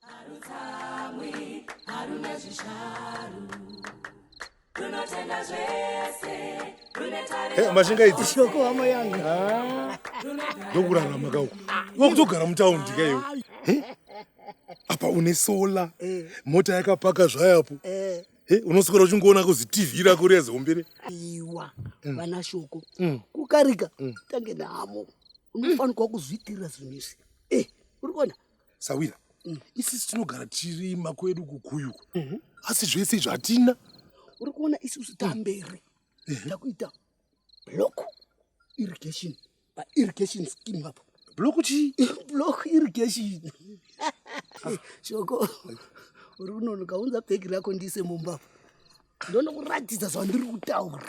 Harutsamwi, haruna zvisharu. Runotenda zvese, rune tariro. Eh, mashinga idzi. Shoko hama yangu. Ah. Ndokurarama kauko. Wakutogara mutaundi kaiwe. Eh? Apa une solar. Eh. Mota yakapaka zvayapo. Eh. Eh, unoswera uchingoona kuzi tv rako riya zihombere iwa mm. vana shoko mm. kukarika mm. tange namo unofanirwa kuzviitirira zvinhu izvi eh, uri kuona sawira mm. isisi tinogara tiri makwedu kukuyuku mm -hmm. asi zvese izvo hatina uri kuona isusu tamberi mm -hmm. takuita block irrigation pairrigation scheme apo block chii block irrigation shoko uri kunono kaunza bhegi rako ndiise mumba apo ndonokuratidza zvandiri kutaura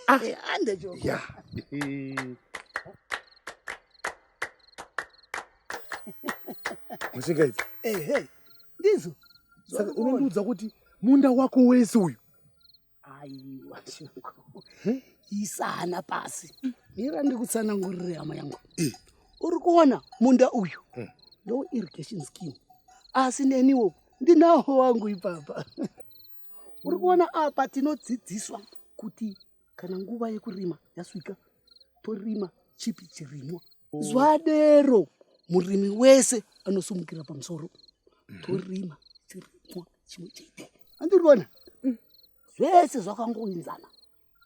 ah. eh, andechoko mashinga idzi ehe ndizo saka unondiudza kuti munda wako wese uyu aiwa shuko isana pasi mira ndikutsanangurire hama yangu uri kuona munda uyu hmm. ndo irrigation scheme asi neniwo ndinawo wangu ipapa uri kuona apa tinodzidziswa kuti kana nguva yekurima yasvika torima chipi chirimwa oh. zwadero murimi wese anosumukira pamusoro mhm. torima chirimwa chimwe chete andiriona mm. zvese zvakangoinzana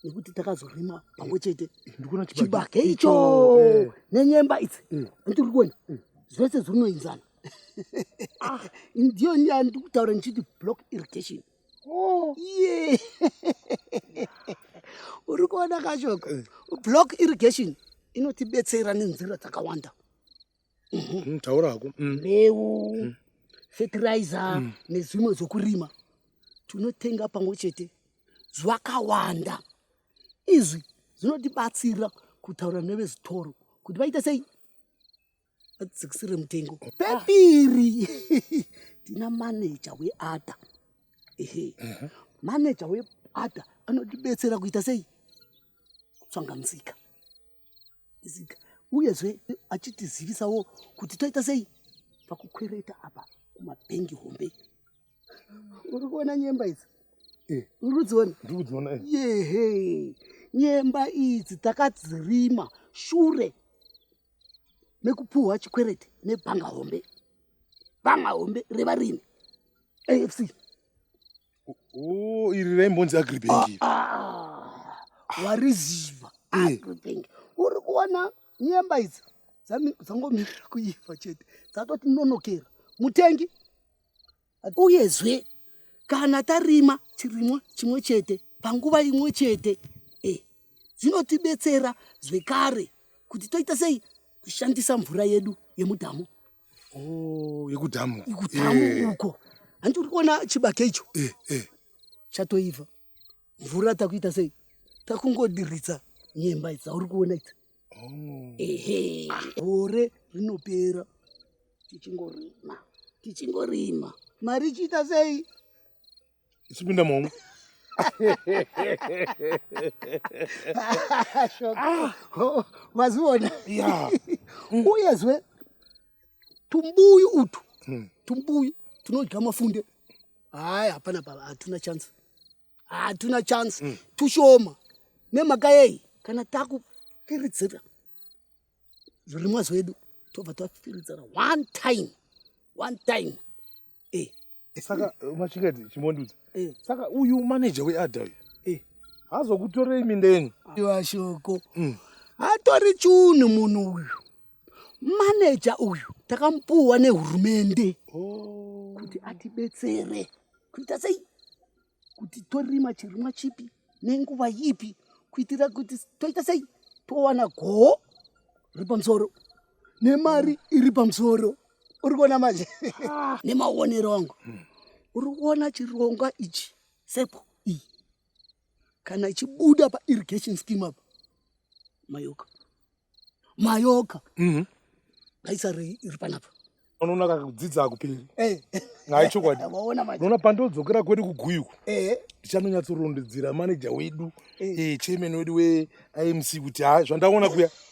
nekuti takazorima pamwe chete chibage icho eh. nenyemba idzi mm. andiriona mm. zvese zvinoinzana ah, ndiyo nyaya ndikutaura ndichiti block irrigation Oh. Yeah. Uri kuona kachoko. Eh. Block irrigation inotibetsera nenzira dzakawanda. Mhm. Mm, taura hako. Mm. Mbeu, mm. fertilizer mm. nezvimwe zvokurima. Tunotenga pamwe chete zvakawanda. Izvi zvinotibatsira kutaura nevezitoro kuti vaite sei vadzikisire mutengo pepiri tina maneja weada ehe maneja weada anotibetsera kuita sei kutsvanga musika musika uyezve achitizivisawo kuti toita sei pakukwereta apa kumabhengi hombe uri kuona nyemba idzi eh. uri kudziona ndiri kudziona eh. yehe nyemba idzi takadzirima shure mekupuhwa chikwereti nebhanga hombe bhanga hombe revarimi afc oh, iri raimbonzi agribank ah, ah, wariziva eh. agribank uri kuona nyemba idzi dzangomira kuiva chete dzatoti nonokera mutengi uyezve kana tarima chirimwa chimwe chete panguva imwe chete eh, zvinotibetsera zvekare kuti toita sei kushandisa mvura yedu yemudhamu oh, yekudhamu ikudhamu eh. uko hanti uri kuona chibake icho eh, eh. chatoibva mvura takuita sei takungodiritsa nyemba dzauri kuona idzi Oh. Ehe. Gore rinopera tichingorima tichingorima mari ichiita sei? Ichipinda momwe. Ah. Oh, Wazviona? Yeah. Mm. Uyezve tumbuyu utu mm. tumbuyu tunodya mafunde. Haya, hapana pava, hatuna chance. hatuna chance mm. tushoma nemhaka yei kana takufiridzira zvirimwa zvedu tobva tafiridzira one time one time eh. eh saka eh, machikadzi chimondudza eh. saka uyu manager weada uyu eh. hazokutorei minda yenyu iwa shoko mm. hatori chunhu munhu uyu maneja uyu takamupuwa nehurumende oh. kuti atibetsere kuita sei kuti torima chirimwa chipi nenguva ipi kuitira kuti toita sei towana goho riri pamusoro nemari iri pamusoro uri kuona manje ah. nemaonero angu hmm. uri kuona chirongwa ichi sepo iyi kana ichibuda pa irrigation scheme apa mayoka mayoka mhm. ngaisarei iri panapa unoona kakudzidza akuperi eh. ngai chokwadi unoona pandodzokera kwedu kuguyuku eh. ndichanonyatsorondedzera maneja wedu eh. chairman wedu weimc kuti ha zvandaona kuya